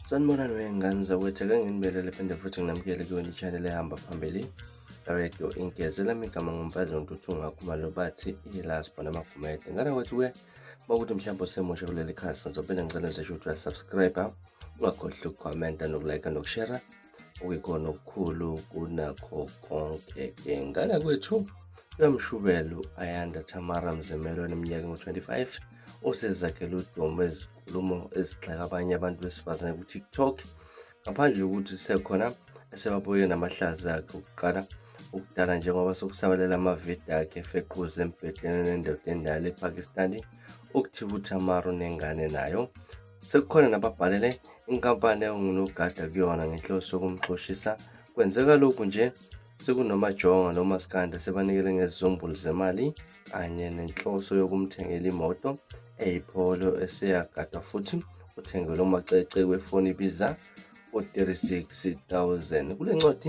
Sanibonani wey'ngane zakwetheka nginibelele phinde futhi nginamukele kuyona i-channel ehamba phambili radio ingeze lami igama ngumfazi wontuthu ngakhuma lo bathi i-last bona amagumede ngane kwethu-ke uma ukuthi mhlawumbe usemusha kuleli khasi ngizopenda ngicela ngisesho ukuthi uyasubscribe ungakhohlwa ukukhomenta nokulike nokushera like, okuyikona okukhulu kunakho konke-ke ngana kwethu uyamshubelo ayanda tamara mzimelo eneminyaka engu-25 osezakhele udumo ezinkulumo ezigxeka abanye abantu besifazane kutiktok ngaphandle yokuthi sisekhona esebabuye namahlazi akhe okuqala ukudala njengoba sokusabalela amavidiyo akhe efequza embhedeni nendoda endala epakistani ukuthiba uthamaro nengane nayo Sekukhona nababhalele inkampani engunogada kuyona ngenhloso yokumxoshisa. Kwenzeka lokhu nje sekunomajonga nomaskanda sebanikele ngezizumbulu zemali kanye nenhloso yokumthengela imoto eyipholo eseyagada futhi uthengelwe umacece wefoni ibiza u-36 000 kule ncwadi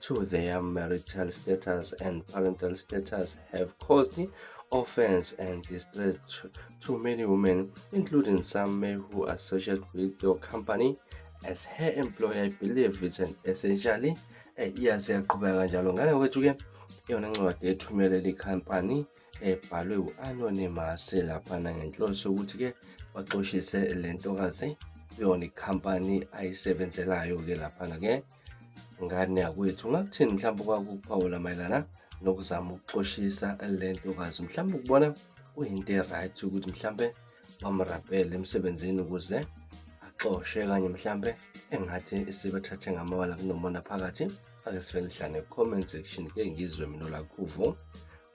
to their marital status and parental status have caused offense and distress to, to many women, including some men who associate with your company as her employer believe it's an essentially eh, iyasiyaqhubeka kanjalo ngane kwethu ke iyona ncwadi ethumele le company ebhalwe u-anonymous laphana ngenhloso yokuthi ke baxoshise le ntokazi yona ikhampani ayisebenzelayo ke laphana ke ngane yakwethu ungakuthini mhlawumbe kwakuphawula mayelana nokuzama ukuxoshisa le ntokazi mhlawumbe ukubona kuyinto e-right ukuthi mhlawumbe bamrapele emsebenzini ukuze axoshe kanye mhlawumbe engathi isibathathe ngamawala kunomona phakathi ake sivele hlane comment section ke ngizwe mina lakhuvo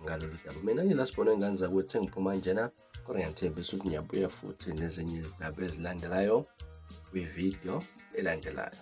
ngalolu daba mina ngilasibona engane zakwethu engiphuma njena kodwa ngiyathembisa ukuthi ngiyabuya futhi nezinye izindaba ezilandelayo kwividiyo elandelayo